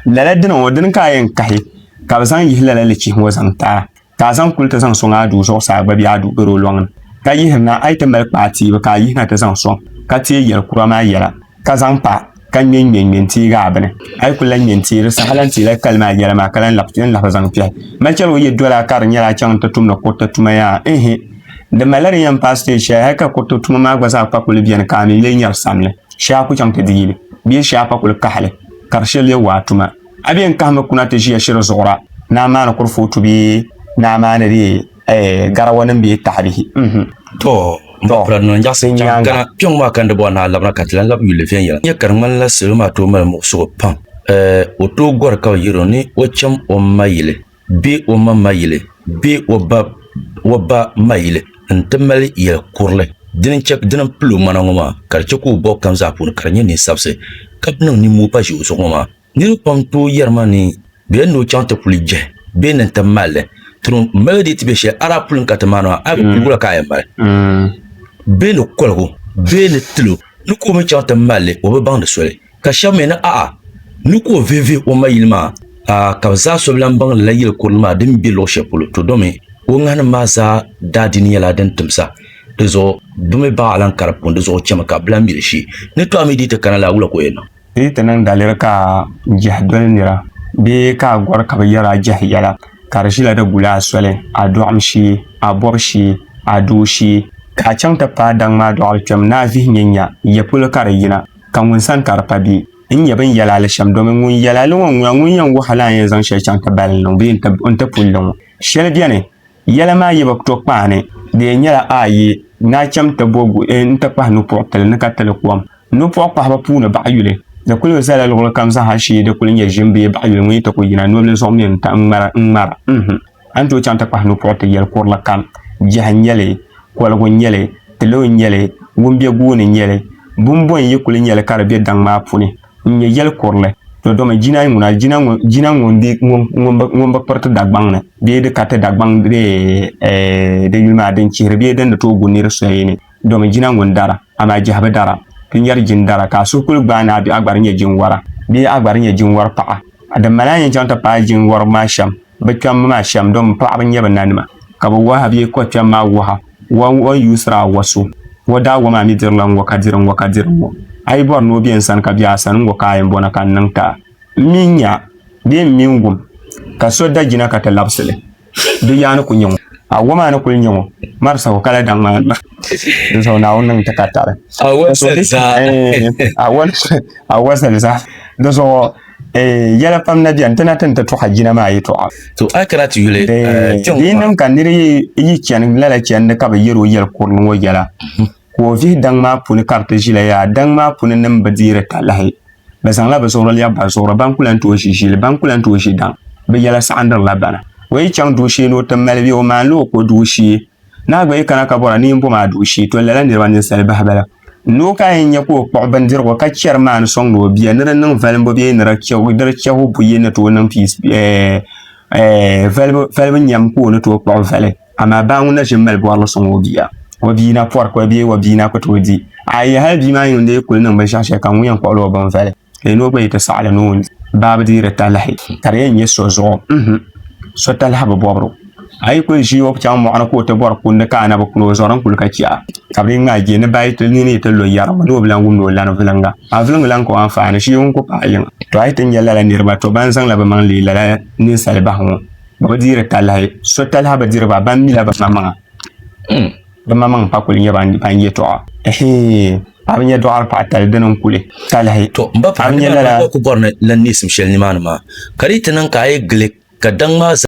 lala dini ŋɔ dini ka a yɛn kahi ka bi zaŋ yihi lala lichihi ŋɔ zaŋ ti a ka a zaŋ kuli ti zaŋ sɔŋ a duu zuɣusaa gba bɛ a duu garo lɔŋni ka yihirina a yi ti mali kpaa tiibu ka a yihina ti zaŋ sɔŋ ka teei yɛli kura maa yɛla ka zaŋ pa ka ŋmɛ ŋmɛ ŋmɛ n teegi a bini a yi kuli lahi ŋmɛ n teeri saha lahi teela kali maa yɛla maa ka lahi lahi yɛn lahi zaŋ kpɛhi mali chɛli o yɛdɔla ka di nyɛla a chaŋ n ti tumdi kuriti tuma yaa ihi di malila din yɛn paai siteej shɛli hali ka kuriti tuma maa gba zaa pa kuli bɛni ka a mi lee nyari samli shee a ku chaŋ ti di yili bee shee a pa kuli kahili ka di shɛli yɛn waa tuma. A bi yɛn kahimi kuna ti ʒiya shiri zuɣura, naa maani kurifootu bee naa maani di eh, garawanim bee tahibihi. Mhm. To, m ba Pirad Nɔn Nyaɣisi chaŋ Gana. Kpiɔŋ maa ka n di bɔri ni a labina ka ti lan labi yuli viɛnyɛla. N nya ka di ŋmanila salo maa tooi mali muɣisigu pam. Eh, o tooi gɔri ka bɛ yiri o ni o cham o ma yili. bee o ma ma yili bee o ba o ba ma yili n-ti mali yɛl kurili dini n-chɛ dini m-pili o ŋmana ŋɔ maa ka di chɛ ka o bɔb kam zaa puuni ka di nyɛ nin sabisi ka bɛ niŋ nimmoo pa ʒe o zuɣu ŋɔ maa. Niriba pam n-tooi yɛri ma ni bɛ yɛn ni o chaŋ ti kuli jehi bee ni n-ti mali li tiri o mali dii ti be shɛli a daa puli n-ka ti maani maa a bi piligu la ka a yɛn mali bee ni koligu bee ni tilo ni ka o mi chaŋ ti mali li o bi baŋdi soli. ka shɛba mi ni a'a ni ka o vihivihi o ma yili maa, a'a ka bɛ zaa so bi lan baŋ lala yili kurili maa din be luɣ shɛli polo, to domi o ŋahinim maa zaa daadiini nyɛla din timsa, dizuɣu bɛ mi baɣ alankari puuni, dizuɣu chɛmi ka bɛ lan mi li shee. Ni tɔha mi dii ti kana la, wula ka o yɛn niŋ? Dii ti niŋ daliri ka a jɛhi doli nira bee ka a gɔri ka bɛ yɛri a jɛhi yɛla, ka di ʒila di guli a soli, a dɔɣim shee, a bɔbu shee, a doo shee, ka a chaŋ ti paai daŋ maa dɔɣili kpɛm ni a vihi nyɛ nya, ya polo ka di yina. Ka ŋun sani ka di pa bɛ ni nyɛ bɛn yɛli a li shɛm, domin ŋun yɛli a li ŋɔ n-ŋuna, ŋun yɛn wuhi a la a ni yɛn zaŋ shɛli chaŋ ti bali n-niŋ bee n ti pun li ŋɔ. Shɛli beni, yɛla maa yi bi to kpaani, di yɛn nyɛla a yi naa cham ti bo nti kpahi nupɔɣ tili ni ka ti li kom. Nupɔɣ kpahibu puuni baɣ yuli, di kul bi zala luɣilikam zaa ha shee di kul nyɛ ʒim bee baɣ yuli ŋun yi ti ku yina nobili zuɣu mi n-ŋmara. A ni tooi chaŋ ti kpahi nupuɣi ti yɛli kurili kam, Jɛhi n-nyɛ li, koligu n-nyɛ li, tiloo n-nyɛ li, wumbiɛ guuni n-nyɛ li, bumbɔn n-yi kuli nyɛ li ka di be daŋ maa puni n-nyɛ yɛli kurili, to domi jina ŋuna, jina ŋun bi kpiri ti Dagbaŋ ni bee di ka ti Dagbaŋ bee di yuli maa din chihiri bee din di tooi gu nir soya ni, domi jina ŋun dara, amaa jɛhi bi dara. Ti nyari jin dara, ka a suhu kuli gbaai ni a bɛ a gba di nyɛ jin wara bee a gba di nyɛ jin wari paɣa. Di mali a yɛn chaŋ ti paai jin waribu maa shɛm. Bɛ kpɛmmi maa shɛm domi paɣiba n-nyɛ bɛ nanima, ka bɛ waha bee kɔ kpɛm maa waha, wa ŋ-ɔ n-yuusiri a wa so, wa daa wa maa mi dirila ŋ-ŋɔ ka diri ŋ-ŋɔ ka diri ŋ-ŋɔ. A yi bɔri ni o be n sani ka be a sani, ŋ-ŋɔ ka a yɛn bɔna ka n niŋ ti a. M mi n-nya a, bee m mi n wum ka so da jina ka ti labisi li, di yaa ni ku nya ŋɔ. A wa maa ni kul nya ŋɔ, mari sahu ka lahi daŋ maa n-ma. Dinzuɣu Naawuni niŋ ti ka tari. A wa zali zaa. Ɛɛn, a wa zali zaa. Dinzuɣu. Eh, yɛla pam na bɛni ti na ti ni ti tɔɣa jina maa yɛtɔɣa to a kana ti yuli eh, eh, kpɛŋ di niŋ ka niri yi chani lala chɛndi ka bi yɛri o yɛli kurili ŋɔ yɛla mhm. ka o vihi daŋ maa puni ka bi ti ʒila yaa daŋ maa puni nim bi deeri talahi bi zaŋla bi zuɣuri lɛbi ba zuɣuri ban kula n tooi ʒi ʒili ban kula n tooi ʒi daŋ bi yɛla saɣandirila bana o yi chaŋ duu shee ni o ti mali bɛ o maanila o ko duu shee Naa gba yi kana ka bɔra ni yi bom a duɣu shee, to lala niriba ninsali bahi bala. Noo ka a yɛn nya ka o kpuɣi bindirigu ka chɛri maa ni sɔŋdi o bia ni di niŋ valimbu bee ni di chɛhu buyi ni tooi niŋ piis valibu valibu nyam ka o ni tooi kpuɣi vali. Amaa baa ŋun na ʒi m-mali bɔrili sɔŋ o bia. O bia na pɔri kɔli bee o bia na ku tooi di. A yi yɛli hali bia maa yuun deei kuli niŋ binshɛɣu shɛli kam, ŋun yɛn kpuɣila o binvali? ka yino gba yi ti saɣali ni o baa bi deeri talahi ka di yɛn nyɛ so zuɣu so talahi bi bobru a yi kuli ʒi o chaŋ moɣani ka o ti bori kundi ka anabi kuli o zuɣu din kuli ka chɛɣa ka bi ŋmaa je ni bayi ti nini yi ti lo yɛri ni o bi lan wumdi o lani vilinga a vilingi lan ka o anfaani ʒii ŋun ku paai yiŋa to a yi ti nyɛ lala niriba to ban zaŋla bi maŋ leei lala ninsali bahi ŋɔ ba bi deeri talahi so talahi bi diri ba ban mila ba maŋa hmm. Di maŋmaŋ pa kuli nyɛ ban yɛtɔɣa. Ɛhii! Paɣiba nyɛ dɔɣiri paɣitali dini n-kuli talahi. To m ba paɣa ni maa ka o ku bɔri ni lan neesim shɛli nimaani maa, ka di yi ti niŋ ka a yi gili ka daŋ maa zaa.